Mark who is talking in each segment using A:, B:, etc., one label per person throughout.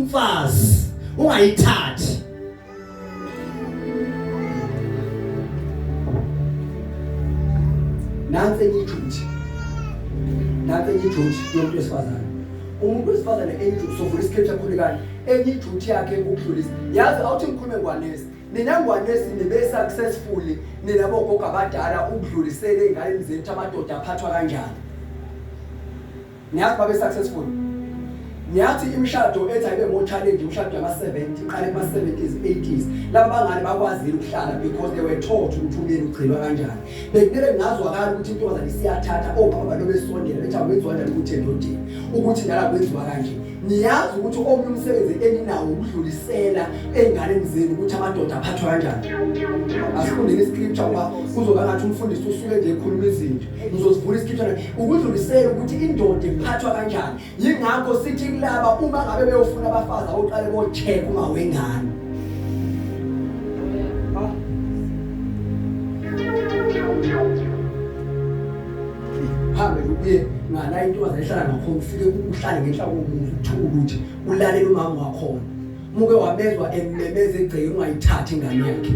A: umfazi ungayithathi nansi enye ijuthi nansi enye ijuthi yomuntu wesifazane umuntu wesifazane enye ijuthi sovula iscripture khulekani enye ijuthi yakhe ukudlulisa yazi awuthi ngikhulume ngwanesi nina ngwanesi nibe successfully nina bogogo abadala ukudlulisela ey'nganeni zenu ukuthi amadoda aphathwa kanjani Niyazi babe successful. Niyathi imishado ethi ayibe ngo challenge imishado yama 70 iqale kuma 70s 80s. Laba bangane bakwazile ukuhlala because they were taught ukuthi umyeni ugcinwa kanjani. Bekumele ngazwakala ukuthi intombazane isiyathatha obaba oh, balobe sondela bethi awenziwa njani ukuthi endodeni ukuthi ngala kwenziwa kanje. Niyazi ukuthi omunye umsebenzi eninawo ukudlulisela enganeni zenu ukuthi amadoda aphathwa kanjani. Asifundeni iscripture ngoba kuzoba ngathi umfundisi usuke nje ekhuluma izinto. ngizosivula isikhiphana ukudlulisela ukuthi indoda iphathwa kanjani yingakho sithi kulaba uma ngabe beyofuna abafazi awuqale bocheck uma wengane hambe uye ngala intombazane ehlala ngakhona ufike uhlale ngenhla komuzi uthukuluthi ulalele umama wakhona muke wabezwa emmemeza egceke ungayithathi ingane yakhe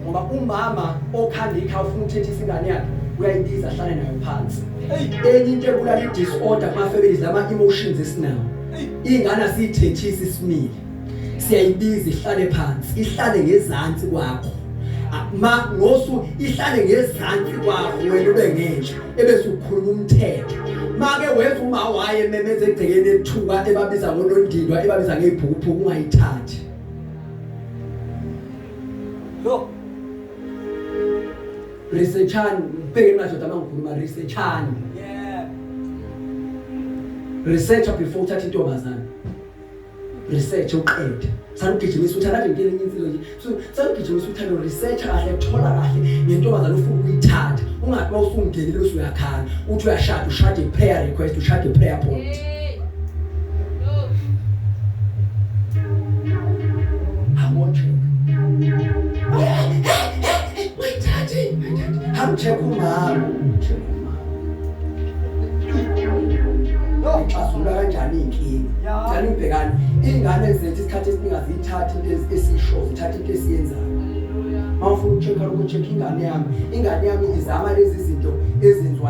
A: ngoba umama okhanda ikha ufuna ukuthetha isingane yakhe uyayibiza ahlale nayo phansi enye into ebulala i-disorder kuma-families lama-emotions esinawo iy'ngane asiyithethisi simile siyayibiza ihlale phansi ihlale ngezantsi kwakho ma ngosu ihlale ngezantsi kwakho wena ube ngenja ebese ukhuluma umthetho make wenza uma waye memeze egcekeni ethuka ebabiza ngonondindwa ebabiza ngeibhukuphuku ungayithathi lo researchani ubheke madoda mangikhuluma researchani yeah research before uthatha intombazana research uqede salugijimisa uthanda nje impilo insizwa nje so salugijimisa uthanda research kahle thola kahle ngentombazana ufuna ukuyithatha ungathi mawusungenile bese uyakhala uthi uyashada ushade prayer request ushade prayer point Check o mago. Xazulula kanjani iy'nkinga? Cela ubhekane. Iy'ngane zethu isikhathi esiningi aziyithathi into esiyishoyo, zithatha into esiyenzayo. Uma ufuna uku-check-a lokho check ingane yami. Ingane yami izama lezi zinto ezenziwayo.